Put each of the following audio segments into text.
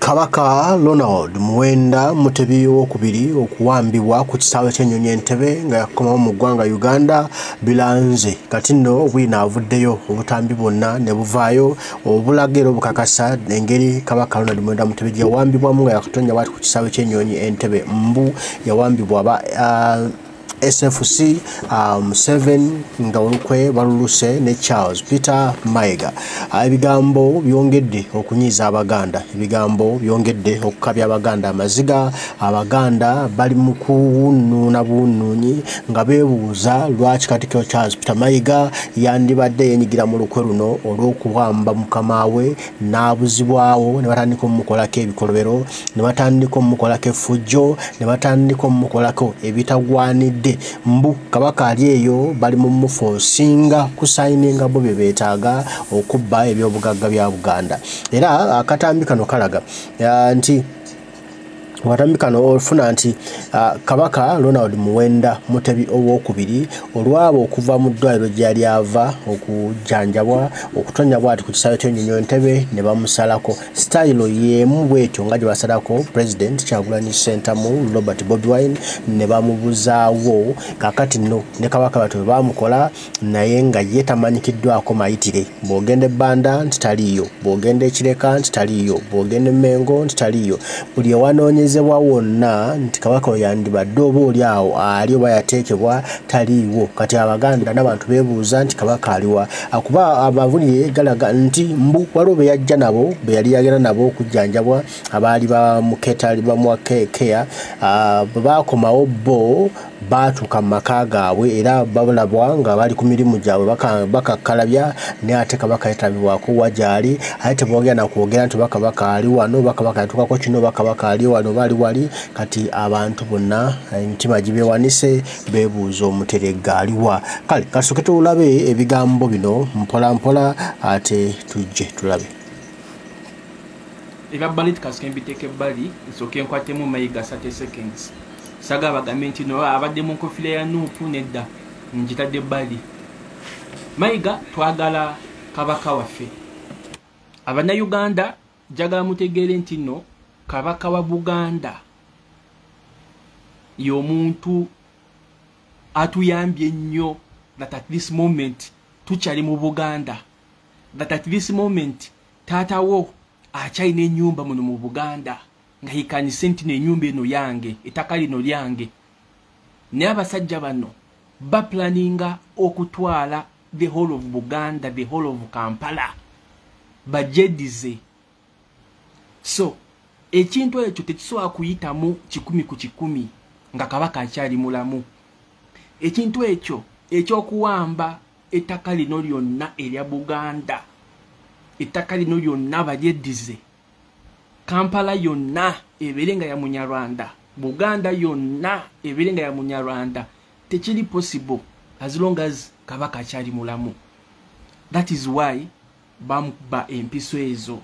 kabaka ronald muwenda mutebi wokubiri okuwambibwa ku kisaawe kyenyonyi entebe nga yakomawo mu ggwanga uganda bilanze kati nno bwina avuddeyo obutambi bwonna ne buvaayo obulaga era obukakasa engeri kabaka ronald muwenda mutebi gyeyawambibwamu nga yakatonnya bwati ku kisaawe kyenyonyi entebe mbu yawambibwa ba uh, sfc um, seven nga olukwe baluluse ne charles peter mayega ah, ebigambo byongedde okunyiiza abaganda ebigambo byongedde okukabya abaganda amaziga abaganda bali mu kuwunuuna buwunuunyi nga beebuuza lwaki katikiro charles peter mayega yandibadde yenyigira mu lukwe luno olw'okuwamba mukama we n'abuzibwawo ne batandika omukolako ebikolobero ne batandika omukolako effujjo ne batandika omukolako ebitagwanidde mbu kabaka ali eyo bali mu mufu osinga kusayininga bo bye beetaaga okubba ebyobugagga bya buganda era akatambi kano kalaga nti watambi kano ofuna nti uh, kabaka ronald muwenda mutebi owokubiri olwaba okuva mu ddwaliro gyeyali ava okujanjabwa okutonya bwati ku kisaawe kyenyonyi entebe ne bamusalako sitayilo y'emu bwetyo nga gye basalako pulezidenti kyagulanyi sentamu robert bobwine ne bamubuzaawo kakati no ne kabaka batu bebamukola naye nga ye tamanyikiddwako mayitire bw'ogenda ebbanda nti taliiyo bw'ogenda ekireka nti taliiyo bw'ogenda emmengo nti taliiyo buli ewanoonyezebwa wonna nti kabaka we yandibadde oba oli awo ali oba yateekebwa taliiwo kati abaganda n'abantu beebuuza nti kabaka aliwa akuba abavunire galaga nti mbu waliwo be yajja nabo be yali yagenda nabo okujjanjabwa abaali bamuketa bamuwa keya ah, baakomawo bo baatuuka mu maka gaabwe era balabwa nga bali ku mirimu gyabwe bakakkalabya naye ate kabaka yetabibwako wa gyali aye tebogera nakwogera nti bakabaka ali wano bakabaka yatuukako kino bakabaka ali wano bali wali kati abantu bonna emitima gibewanise bebuuza omuteregga aliwa kale kasuke tulabe ebigambo bino mpolampola ate tujje tulabe ebyabbali tukasuke mbiteeka ebbali nsooke nkwatemu mayiga sate seconds saga bagambe nti no abadde mu nkofira ya nuupu nedda ngitadde ebbali mayiga twagala kabaka waffe abanauganda njagala mutegeere nti no kabaka wa buganda y'omuntu atuyambye ennyo that at this moment tukyali mu buganda that at this moment taatawo akyalina enyumba muno mu buganda nga hikanise nti nenyumba eno yange ettaka lino lyange naye abasajja bano baplaninga okutwala the whole of buganda the whole of kampala bajedize so ekintu ekyo tekisobola kuyitamu kikumi ku kikumi nga kabaka akyali mulamu ekintu ekyo ekyokuwamba ettaka lino lyonna erya buganda ettaka lino lyonna balyeddize kampala yonna ebeere nga ya munyarwanda buganda yonna ebeere nga ya munyarwanda tekiri possible as long as kabaka akyali mulamu that is why bamukuba empiso ezo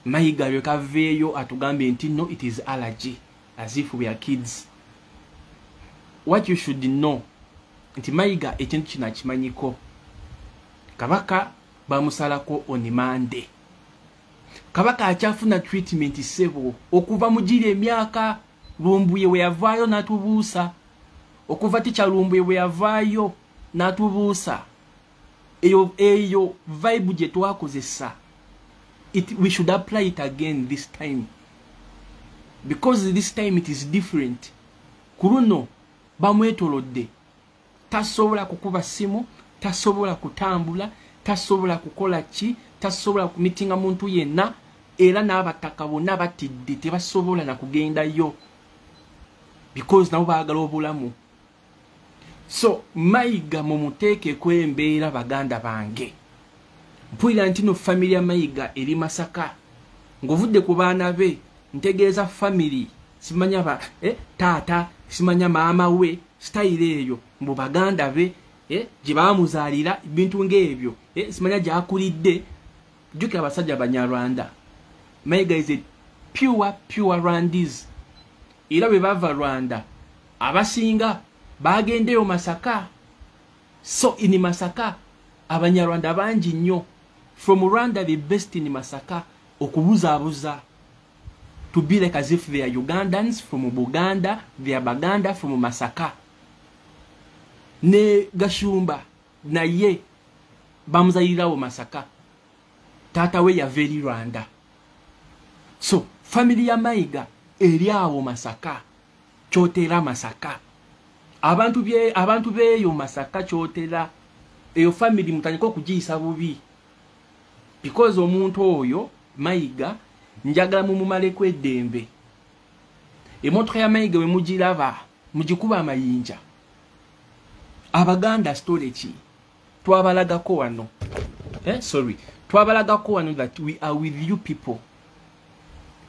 mayiga lwekaveeyo atugambye nti no it is allergy as if we are kids what you should know nti mayiga ekintu kino akimanyiko kabaka bamusalako onimande kabaka akyafuna treatment sebo okuva mugiri emyaka lumbuye we yavaayo natubuusa okuva tikya lumbuye we yavaayo natubuusa eyo eyo vibe gye twakozesa it we should apply it again this time because this time it is different ku luno bamwetolodde tasobola kukuba simu tasobola kutambula tasobola kukola ki tasobola kumitinga muntu yenna era n'abataka bonna batidde tebasobola na kugendayo because nabo baagala obulamu so mayiga mumuteekeko embeera baganda bange mpulira nti no family ya mayiga eri masaka ngovudde ku baana be ntegeeza family simanya ba eh, taata simanya maama we sitayiro eyo mbu baganda be eh, gye bamuzaalira ebintu ngaebyo eh, simanya gyakulidde jjukira abasajja banyarwanda mayiga is a pure pure rwandis era bwe bava rwanda abasinga bagendeyo masaka so in masaka abanyarwanda bangi nnyo from rwanda the best in masaka okubuzabuza to be like as if they are ugandans from buganda they are baganda from masaka ne gashumba naye bamuzalirawo masaka taata we yava eri rwanda so family ya mayiga eri awo masaka kyotera masaka abantu bye abantu beyo masaka kyotera eyo family mutandika okugiyisa bubi because omuntu oyo mayiga njagala mumumaleko eddembe emotoka ya mayiga we mugiraba mugikuba amayinja abaganda storeki twabalagako wano eh, sorry twabalagako wano that we are with you people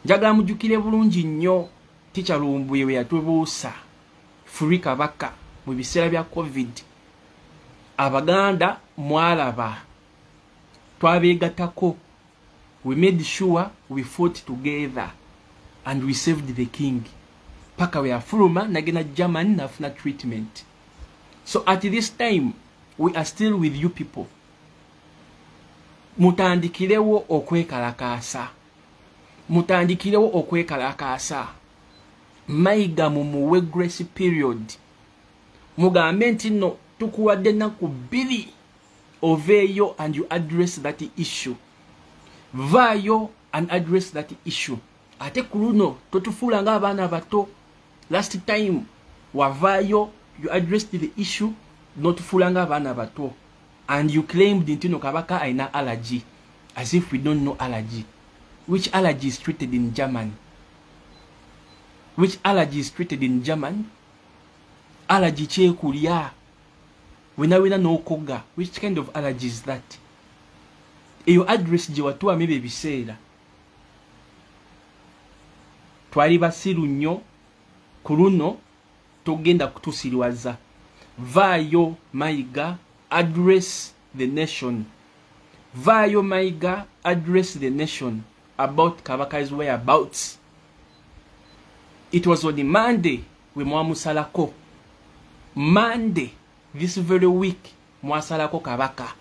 njagala mujukire bulungi nnyo ticha lumbuye weyatubuusa furi kabaka mu biseera bya covid abaganda mwalaba twabegatako we made sure we fought together and we saved the king paka weyafuluma nagenda german nafuna treatment so at this time we are still with you people mutandikirewo okwekalakaasa mutandikirewo okwekalakaasa mayiga mumuwe grace period mugambe nti no tukuwadde ennaku bbiri oveeyo and you address that issue vaayo and address that issue ate ku luno totufuula nga abaana bato last time wavaayo you addressed the issue notufuula nga abaana bato and you claimed nti no kabaka alina allergy as if we don't know allergy which allergy is treated in germany which allergy is treated in germany allergy kyekulya wena wena nokoga which kind of allergy is that eyo address gye watuwamu ebyo ebiseera twali basiru nnyo ku luno togenda kutusiriwaza vaayo mayiga address the nation vaayo mayiga address the nation about kabaka's whereabouts it was on monday we mwamusalako monday this very week mwasalako kabaka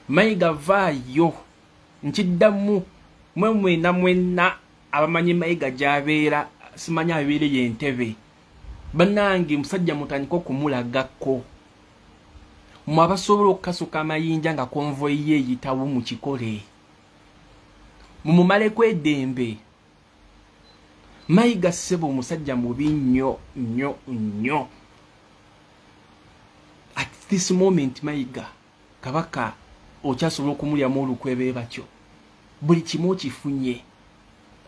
mayiga vaayo nkiddamu mwe mwena mwena abamanyi mayiga gyabeera simanyi abeere yentebe banange musajja mutandika okumulagako mwe abasobola okukasuka amayinja nga konvoyi ye eyitawo mu kikole mumumaleko edembe mayiga ssebo omusajja mubi nnyo nnyo nnyo at this moment mayiga kabaka okyasobola okumulyamu olukwe be batyo buli kimu okifunye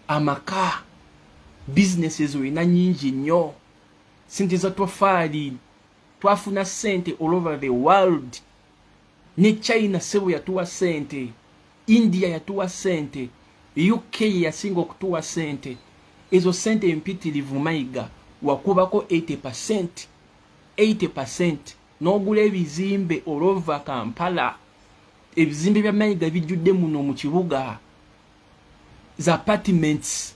amaka businesses olina nyingi nnyo sente za tofaali twafuna sente all over the world ne china sebo yatuwa sente india yatuwa sente uk yeyasinga okutuwa sente ezo sente empitirivu mayiga wakubako 80 percent 80 percent n'ogula ebizimbe olwova kampala ebizimbe bya mayiga bijjudde muno mu kibuga za apartments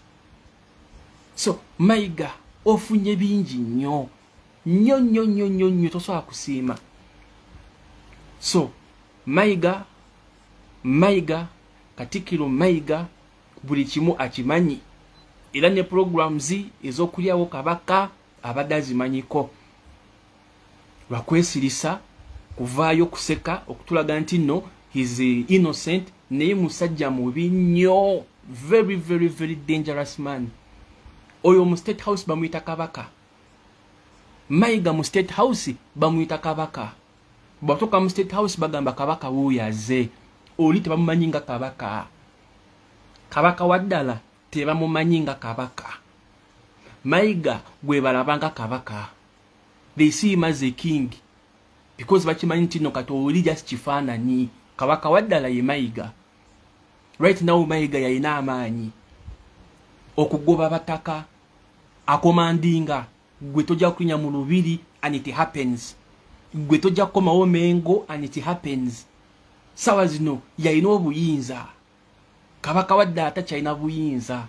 so mayiga ofunye bingi nnyo nnyo nnyo nnyo nnyo nnyo tosobola kusiima so mayiga mayiga katikiro mayiga buli kimu akimanyi era ne programs ezokulyawo kabaka abadde azimanyiko lwakwesirisa kuvaayo kuseka okutulaga nti no his innocent naye musajja mubi nnyo very very very dangerous man oyo mu state house bamuyita kabaka mayiga mu state house bamuyita kabaka bwatuuka mu state house bagamba kabaka wuuyo aze oli tebamumanyi nga kabaka kabaka wa ddala tebamumanyi nga kabaka mayiga gwebalabanga kabaka they see him as a king because bakimanyi nti no kati oli just kifaananyi kabaka waddala ye mayiga right now mayiga yalina amaanyi okugoba bataka akomandinga gwe tojja kunya mu lubiri and it happens gwe tojja kukomawo mengo and it happens sawa zino yalina obuyinza kabaka wadde atakyalina buyinza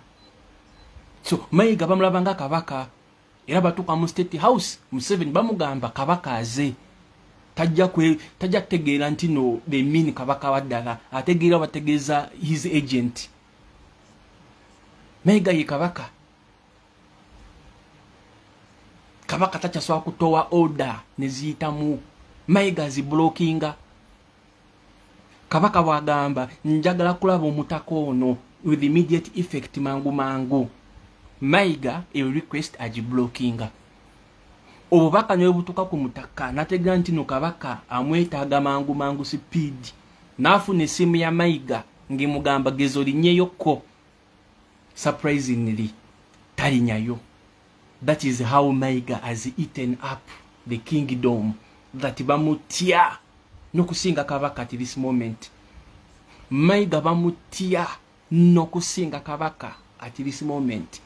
so mayiga bamulabanga kabaka era batuuka mu state house museveni bamugamba kabaka aze tajja kutegeera nti no the mean kabaka waddala ategeera bategeeza his agent naye gaye kabaka kabaka takyasobola kutowa order neziyitamu mayiga zibulokinga kabaka bwagamba njagala kulaba omutaka ono with immediate effect mangu mangu mayiga eyo request agiblockinga obubaka nebutuka ku mutaka natega nti no kabaka amwetaaga mangu mangu sipiidi naafuna essimu ya mayiga ngemugamba gezo linyeyokko surprisingly talinyayo that is how maiga has eaten up the kingdom that bamutya nokusinga kabaka at this moment maiga bamutya nokusinga kabaka at this moment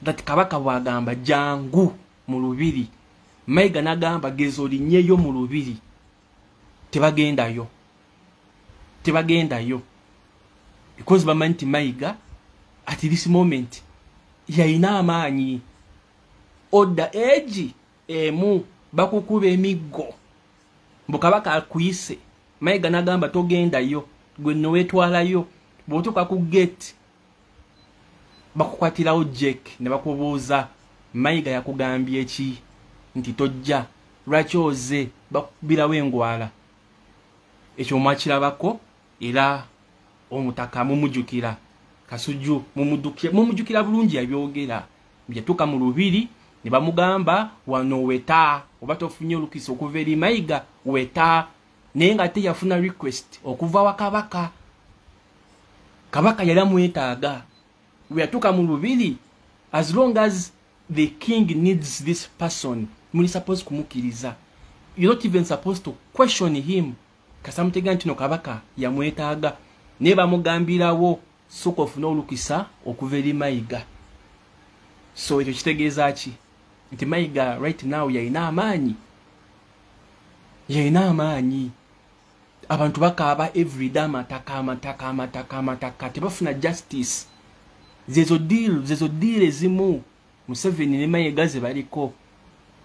that kabaka bwagamba jangu mu lubiri maiga nagamba gezo linyeyo mu lubiri tebagendayo tebagendayo because bamanyi nti mayiga at this moment yayina amaanyi odda egi emu bakukuba emiggo mbu kabaka akuyise mayiga nagamba togendayo gwe nowetwalayo bwotuka ku gate bakukwatirawo jake ne bakubuuza mayiga yakugambye eki nti tojja lwaki oze bakubirawo engwala ekyo mwakirabako era omutaka mumujukira kasujju mumujukira bulungi yabyogera yatuuka mu lubiri ne bamugamba wano weta oba tofunye olukisa okuva eri mayiga weta naye nga ate yafuna request okuva wakabaka kabaka yali amwetaaga weyatuuka mu lubiri as long as the king needs this person muli suppose kumukiriza you're not even supposed to question him kasamutega ntino kabaka yamwetaaga naye bamugambirawo soka ofuna olukisa okuva eri mayiga so ekyo kitegeeza ki nti mayiga right now yalina amaanyi yalina amaanyi abantu bakaaba everyday amataka amataka amataka amataka tebafuna justice zezo deal zezo deal ezimu museveni ne mayega ze baliko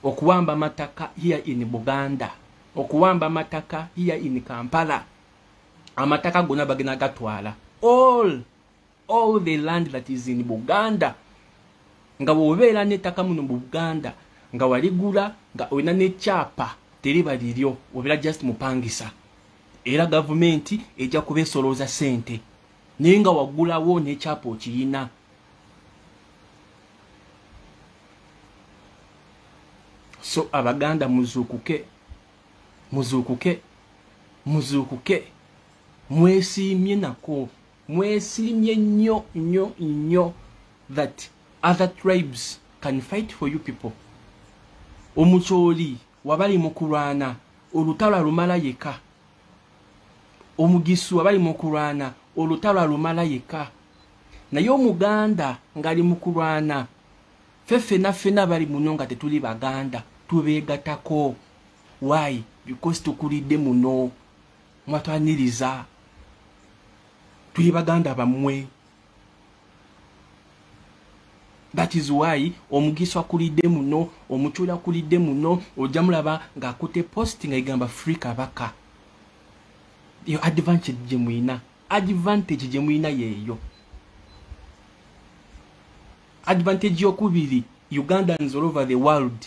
okuwamba amataka here in buganda okuwamba amataka here in kampala amataka gona bagena gatwala all all the land that is in buganda nga bwobeera nettaka muno mu buganda nga waligula nga olina nekyapa teriba liryo obeera just mupangisa era gavumenti ejja kubesolooza sente naye nga wagulawo nekyapa okiyina so abaganda muzuukuke muzuukuke muzuukuke mwesiimye nako mwesilimye nnyo nnyo nnyo that other tribes can fight for you people omucooli wabali mu kulwana olutalo alumala yeka omugisu wabali mu kulwana olutalo alumala yeka naye omuganda ngali mu kulwana fe fena fena bali muno nga tetuli baganda tubegatako why because tukulidde muno mwatwaniriza tuli baganda bamwe that is why omugisa akulidde muno omucula akulidde muno ojja mulaba ng'akutte post nga igamba free kabaka eyo advantage gye mulina advantage gye mulina yeeyo advantage yokubiri ugandans all over the world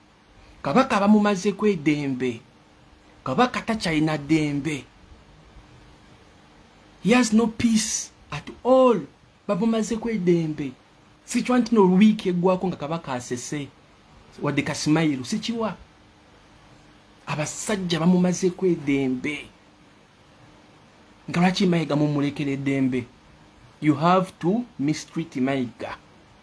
kabaka bamumazeko edembe kabaka takyalina dembe he has no peace at all bamumazeko edembe sikiwa nti no wiiki eggwako nga kabaka asese wadde kasimayiru sikiwa abasajja bamumazeko edembe nga lwaki mayiga mumulekera edembe you have to mistreat mayiga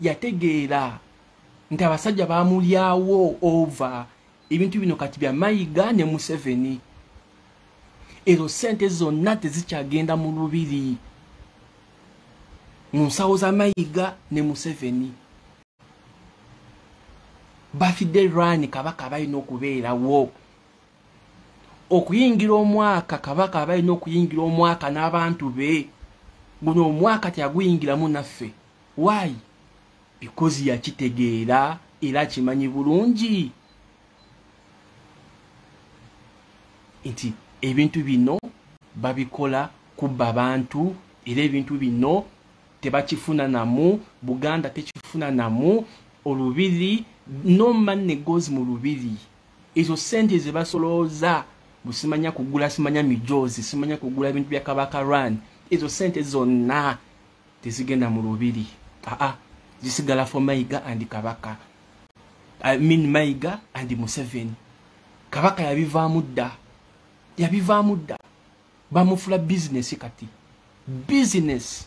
yategeera nti abasajja bamulyawo ova ebintu bino kati bya mayiga ne museveni ezo sente zonna tezikyagenda mu lubiri mu nsawo za mayiga ne museveni bafidde rani kabaka balina okubeerawo okuyingira omwaka kabaka balina okuyingira omwaka n'abantu be guno omwaka teyaguyingiramu naffe why because yakitegeera era kimanyi bulungi nti ebintu bino babikola kubba bantu era ebintu bino tebakifuna namu buganda tekifuna namu olubiri no man negozi mu lubiri ezo sente zebasolooza busimanya kugula simanya mijozi simanya kugula bintu bya kabaka run ezo sente zonna tezigenda mu lubiri aa zisigala for mayiga and kabaka i mean mayiga and museveni kabaka yabivaamu dda yabivaamu dda bamufula bizinesi kati bizinesi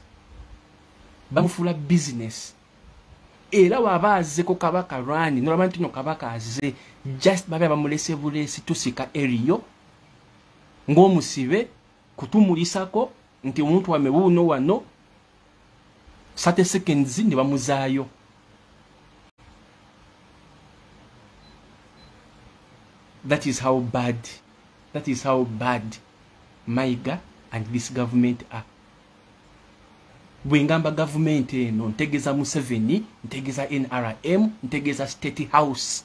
bamufula bizinesi era waba azeko kabaka rani nolaba nti no kabaka aze just babe bamulese bulesi tusika eriyo ng'omusibe kutumulisako nti omuntu wame wuuno wano sate seconds ne bamuzaayo that is how bad that is how bad maiga and this government are bwengamba gavumenti eno ntegeza museveni ntegeza nrm ntegeza state house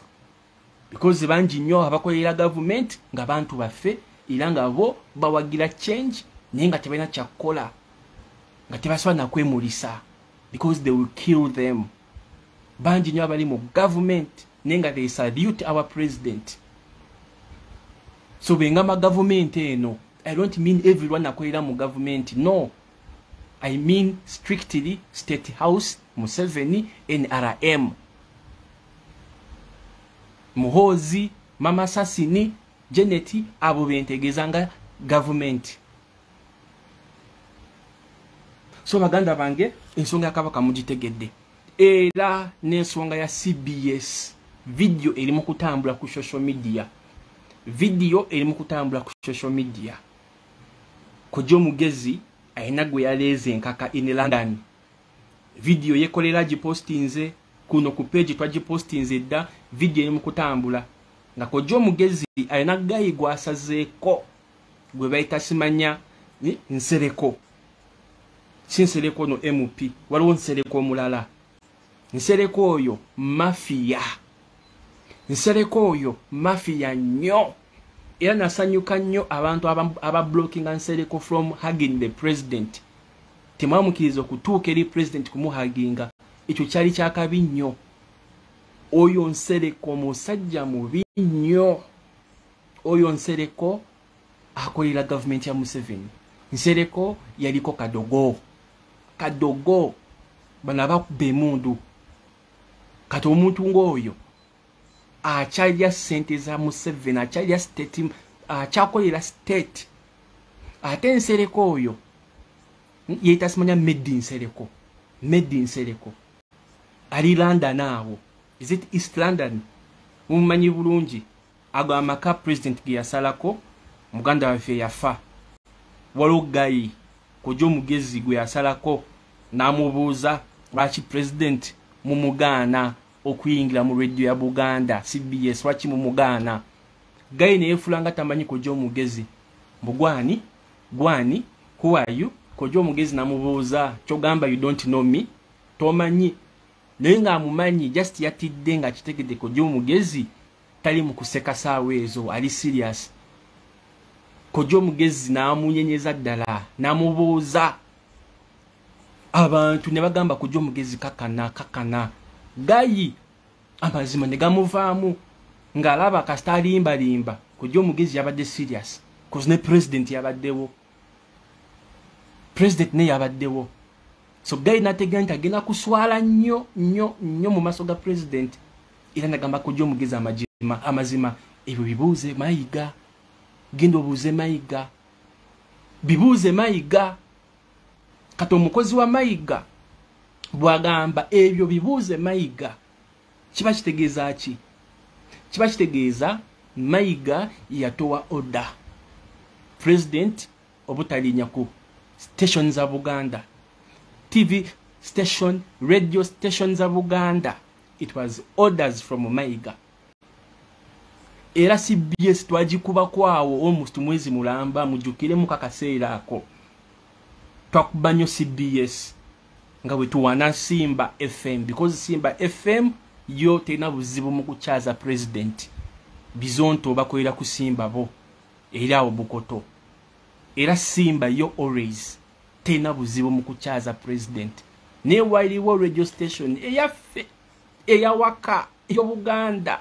because bangi nnyo abakolera gavumenti nga bantu baffe era nga bo bawagira change naye nga tebalina kyakukola nga tebasobola nakwemulisa because they will kill them bangi nnyo abali mu gavumenti naye nga they salute our president so bengamba gavumenti eno i don't mean everyone akolera mu gavumenti no i mean strictly state house museveni nrm muhoozi mama sasini janet abo bentegeeza nga gavumenti so baganda bange ensonga ya kabaka mugitegedde era n'ensonga ya cbs vidiyo eri mu kutambula ku social media vidiyo eri mu kutambula ku social media kojja omugezi alina gwe yaleeze enkaka in london vidiyo yekolera gipostinze kuno ku peegi twagipostinze edda vidiyo eri mu kutambula nga kojja omugezi alina gayi gwasazeeko gwe bayita simanya nsereko si nsereko no mp waliwo nsereko omulala nsereko oyo mafiya nsereko oyo mafiya nnyo era nasanyuka nnyo abantu abablockinga aba nsereko from hagin the president temwamukiriza okutuuka eri president kumuhaginga ekyo kyali kyakabi nnyo oyo nsereko musajja mubi nnyo oyo nsereko akolera gavumenti ya museveni nsereko yaliko kadogo kadogo bano abakuba emundu kati omuntu ngaoyo akyalya sente za museveni akyalya state akyakolera state ate nsereko oyo yetasimanya medi nsereko medi nsereko ali london awo is it east london mumumanyi bulungi ago amaka president geyasalako muganda waffe yafa waliwo gayi kuja omugezi gwe yasalako namubuuza lwaki president mumugaana okuyingira mu radio ya buganda cbs lwaki mumugaana gayi neyefulanga tamanyi kuja omugezi mbugwani gwani who are you kuja omugezi namubuuza kyogamba you don't know me tomanyi naye ngaamumanyi just yatidde nga kitegedde kuja omugezi tali mukuseka saawa ezo ali serious kojja omugezi n'amunyenyeza ddala n'amubuuza abantu ne bagamba kojja omugezi kakana kakana gayi amazima ne gamuvaamu ng'alaba kasita alimbalimba kojja omugezi yabadde serious kozi ne pulezidenti yabaddewo president ne yabaddewo so guy nategera nti agenda kuswala nnyo nnyo nnyo mu maaso ga president era nagamba kujja omugezi amazima ebyo bibuuze mayiga genda obuuze mayiga bibuuze mayiga kati omukozi wa mayiga bwagamba ebyo bibuuze mayiga kiba kitegeeza ki kiba kitegeeza mayiga yatowa order president obutalinyako station za buganda tv station radio station za buganda it was orders from mayiga era cbs twagikubako awo almost mwezi mulamba mujukiremu kakaseera ako twakuba nyo cbs nga bwe tuwana simba fm because simba fm yo terina buzibu mu kukyaza president bizonto bakolera ku simba bo era awo bukoto era simba yo always terina buzibu mu kukyaza president naye waliwo radio station eyaffe eyawaka eyobuganda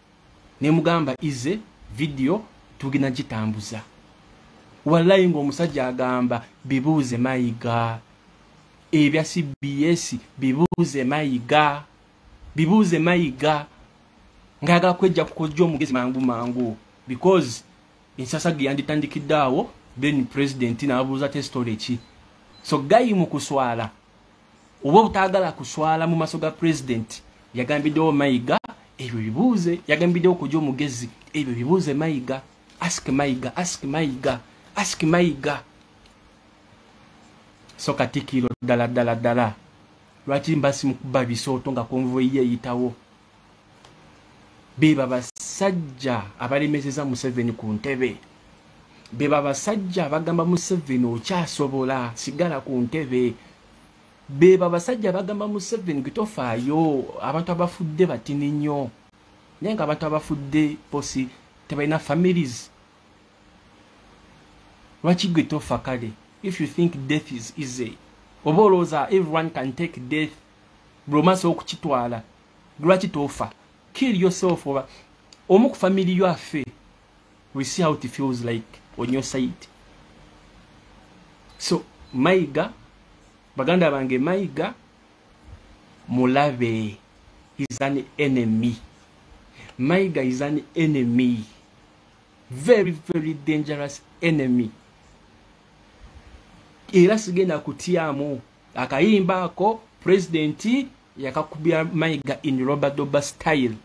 nemugamba ize video tugina nkitambuza wallayi ngaomusajja agamba bibuuze mayiga ebya cbs bibuuze mayiga bibuuze mayiga ngayagala kwejja kukojja omugezi mangu mangu because ensasage yanditandikidde awo then president nabuuza tesitole ki so gayi mu kuswala oba obutagala kuswala mu maso ga president yagambiddewo mayiga ebyo bibuuze yagambiddewo kuja omugezi ebyo bibuuze mayiga ask mayiga ask mayiga ask mayiga so katikiro ddala ddala ddala lwaki mbasi mukuba bisooto nga konvoyi yeyitawo be babasajja abalemezeza museveni ku ntebe be babasajja abagamba museveni okyasobola sigala ku ntebe be babasajja abagamba museveni gitofaayo abantu abafudde batini nnyo naye nga abantu abafudde posi tebalina families lwaki gwe tofa kale if you think death is easy oba olowooza everyone can take death bwomasa okukitwala lwaki tofa kill yourself oba omu ku family yo afe we see how it feels like on your side so mayiga baganda bange mayiga mulabe is an enemy mayiga is an enemy very very dangerous enemy era sigenda kutyamu akayimba ako pulezidenti yakakubya mayiga in robadoba style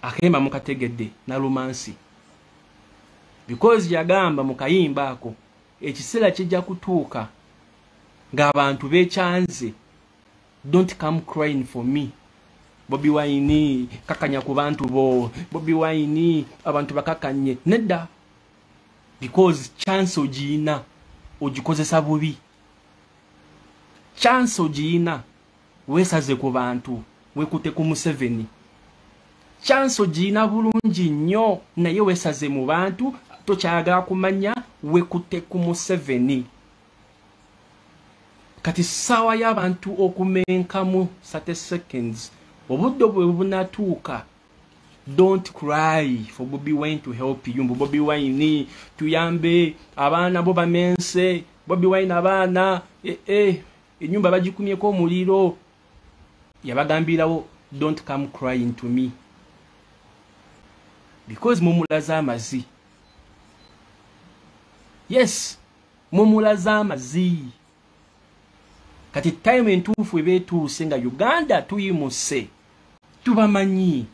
akayimba mukategedde nalumansi because yagamba mu kayimba ako ekiseera kijja kutuuka ng'abantu bekyanze don't come crying for me bobi wayini kakanya ku bantu bo bobi wayini abantu bakakanye nedda because chance ogiyina ogikozesa bubi chance ogiyina wesaze ku bantu wekute ku museveni chance ogiyina bulungi nnyo naye wesaze mu bantu tokyagala kumanya wekute ku museveni kati saawa y'abantu okumenkamu sate seconds obudde obwe bunatuuka don't cry for bobi wine to help you mbu bobi wine tuyambe abaana bo bamense bobi wine abaana eh, eh, enyumba bagikumyeko omuliro yabagambirawo don't come crying to me because mumulaza amazi yes mumulaza amazi kati time entuufu eba etuuse nga uganda tuyimuse tubamanyi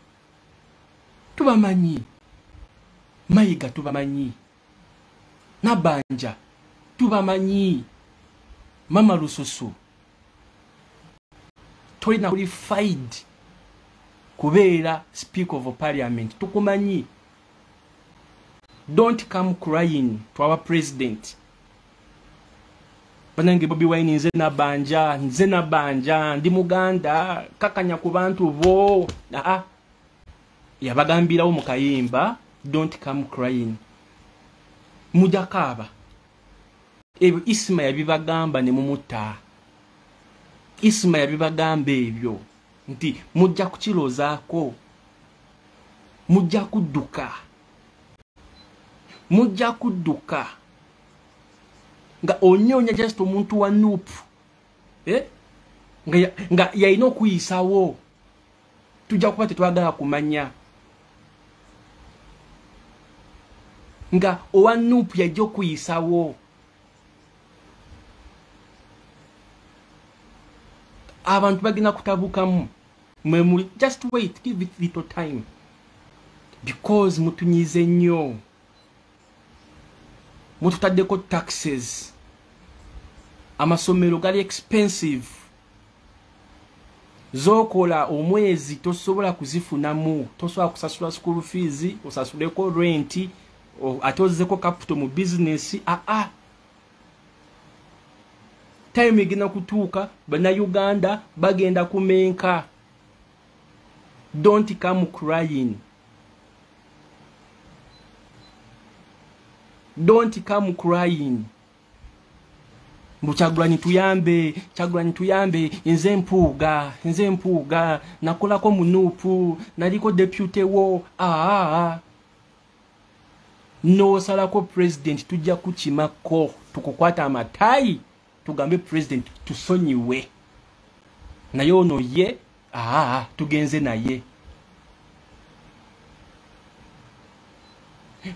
tubamanyi mayiga tubamanyi nabanja tubamanyi mama lususu tolina qualified kubeera speak of parliament tukumanyi don't come crying to our president banange bobi wine nze nabanja nze nabanja ndi muganda kakanya ku bantu bo aa yabagambirawo mu kayimba don't come crying muja kaaba ebyo isima yabibagamba ne mumuta isima yabibagamba ebyo nti mujja kukirozaako mujja kudduka mujja kudduka nga onyonya just omuntu wa nup eh? nga yalina okuyisaawo tujja kuba tetwagala kumanya nga owa nup yajja okuyisawo abantu bagenda kutabukamu mwemuli just wait give it little time because mutunyize nnyo mututaddeko taxes amasomero gali expensive zokola omwezi tosobola kuzifunamu tosobola kusasula school fees osasuleko renti ate ozeko capital mu business aa ah, ah. time egenda kutuuka banauganda bagenda kumenka don't come crying don't come crying mbu kyagulanyi tuyambe kyagulanyi tuyambe nze mpuuga nze mpuuga nakolako munuupu naliko depute wo aa nosalako president tujja kukimako tukukwata amatayi tugambe president tusonyiwe naye ono ye aa tugenze naye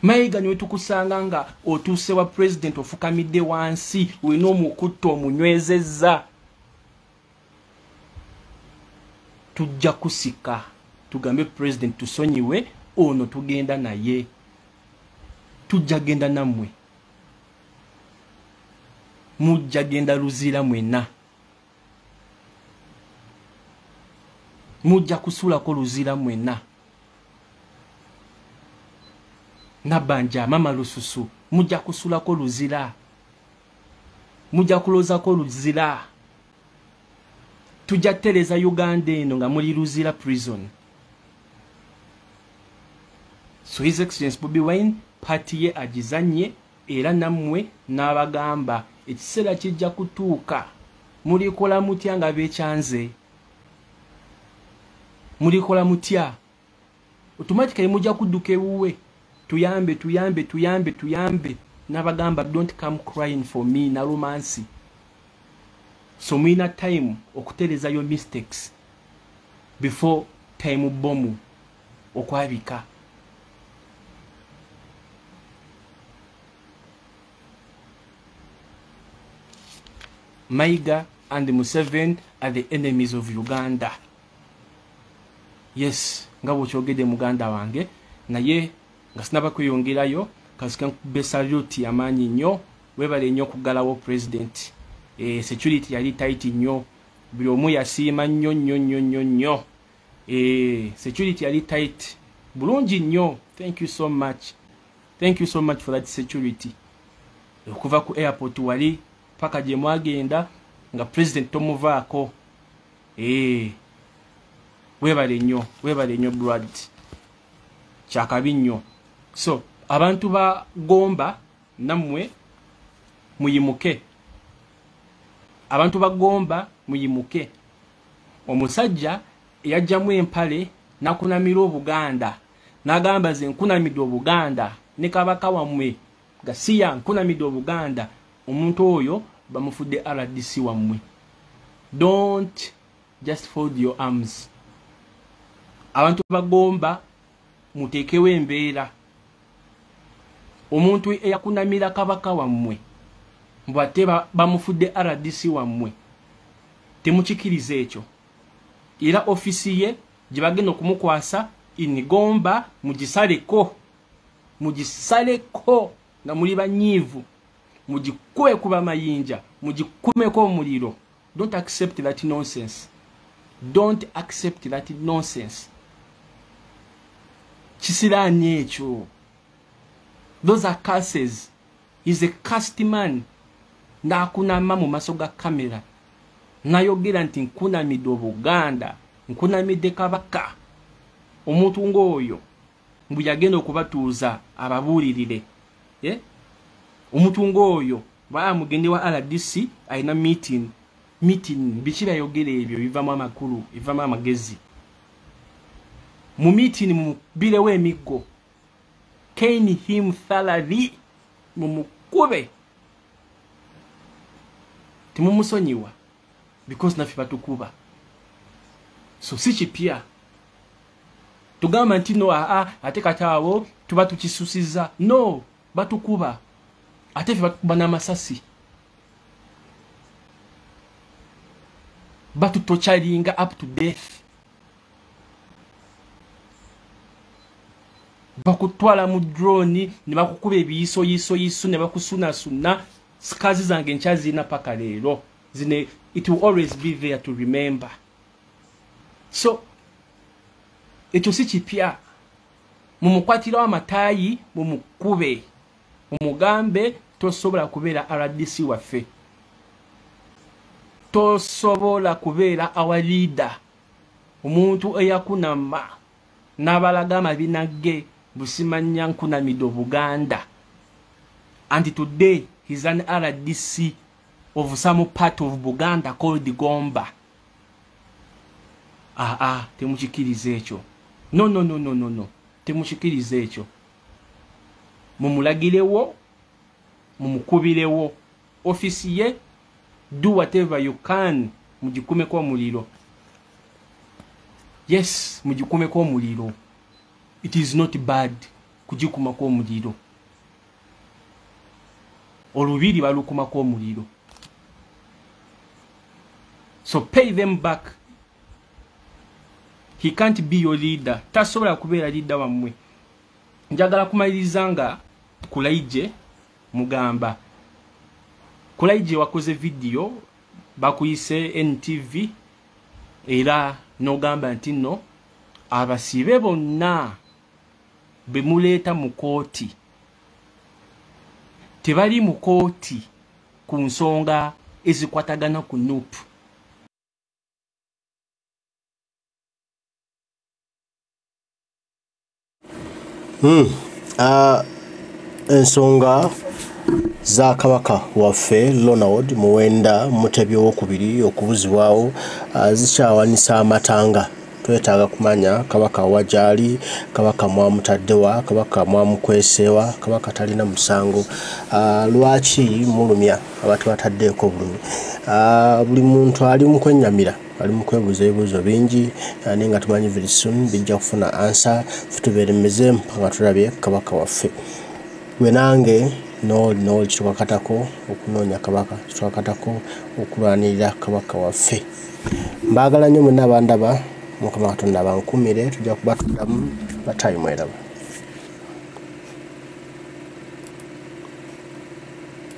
mayiga niwe tukusanga nga otuuse wa president ofukamidde wansi olina omukutta omunywezezza tujja kusika tugambe president tusonyiwe ono tugenda naye tujja genda nammwe mujja genda luzira mwena mujja kusulako luzira mwena nabanja mama lususu mujja kusulako luzira mujja kulozako luzira tujja kutereza uganda eno nga muli luzira prison so his excellence bobi wine pati ye agizanye era nammwe n'abagamba ekiseera kijja kutuuka mulikola mutya nga bekyanze mulikola mutya automatically mujja kudduka ewuwe tuyambe tuyambe tuyambe tuyambe nabagamba don't come crying for me nalumansi so mulina time okutereza yo mistakes before time bomu okwabika maiga and museven are the enemies of uganda yes nga bwokyogedde muganda wange naye nga sinaba kweyongerayo kasika nkube saluti amaanyi nnyo webale nnyo okuggalawo president e, security yali taiti nnyo buli omu yasiima nnyo nnyo nnyo nnyo nnyo e, security yali tit bulungi nnyo thank you so much thank you so much for that security okuva ku airport wali paka gyemwagenda nga president tomuvaako ee webale nnyo webale nnyo brad kyakabi nnyo so abantu ba gomba nammwe muyimuke abantu ba gomba muyimuke omusajja eyajjamu empale nakunamira obuganda nagamba ze nkunamidde obuganda ne kabaka wammwe gasiya nkunamidde obuganda omuntu oyo bamufudde rdc wammwe don't just fold your arms abantu bagomba muteekewo embeera omuntu eyakunamira kabaka wammwe mbu ate bamufudde rdc wammwe temukikiriza ekyo era ofisi ye gye bagenda okumukwasa inigomba mugisaleko mugisaleko nga muli banyiivu mugikuwe kuba mayinja mugikumeko omuliro don't accept that nonsense don't accept that nonsense kisiraani ekyo those are curses is a cast man ng'akunama mu maso ga kamera nayogera nti nkunamidde obuganda nkunamidde kabaka omuntu ng'oyo mbu yagenda okubatuuza ababuulirire eh? omuntu ngaoyo baa mugende wa rdc alina meeting meeting biki byayogera ebyo bivamu amakulu bivamu amagezi mu meeting mubirewo emiggo kain him thalahi mumukube timumusonyiwa because naffe batukuba so si kipya tugamba nti no aa ate kati awo tuba tukisusiza no batukuba ate fe batukuba n'amasasi batutocalinga up to death bakutwala mu drone ne bakukuba ebiyisoyisoyiso ne bakusunasunna sikazi zange nkyazirina paka leero zine it will always be there to remember so ekyo si kipya mumukwatirawo amataayi mumukube mumugambe tosobola kubeera rdc waffe tosobola kubeera our leader omuntu eyakunama nabalaga amabina ge busimanya nkunamide obuganda and today he's an rdc of some part of buganda called gomba aa ah, ah, temukikiriza ekyo no no no no no no temukikiriza ekyo mumulagirewo mumukubirewo office ye do whatever you can mugikumeko omuliro yes mugikumeko omuliro it is not bad kugikumako omuliro olubiri balukumako omuliro so pay them back he can't be your leader tasobola kubeera leader wammwe njagala kumaliriza nga kulaije mugamba kulaije wakoze video bakuyise ntv era nogamba nti no abasibe bonna bemuleeta mu kooti tebali mu kooti ku nsonga ezikwatagana ku nupu hmm. ah, ensonga za kabaka waffe ronald muwenda mutebi owokubiri okubuzibwawo ah, zikyawanisa amatanga twetaaga kumanya kabaka wajaali kabaka mwamutaddewa kabaka mwamukweseewa kabaka talina musango ah, lwaki mulumya abantu bataddeeko bulumi ah, buli muntu ali mukwenyamira ali mu kwebuuza ebibuuzo bingi eh, naye nga tumanyi very soon bijja kufuna ansa futubeere mize mpaka nga tulabye kabaka waffe gwe nange noli noli kitwakatako okunoonya kabaka kitwakatako okulwanirira kabaka waffe mbaagala nnyo mwenna abandaba mukama katonda bankumire tujja kuba tuddamu batayimweraba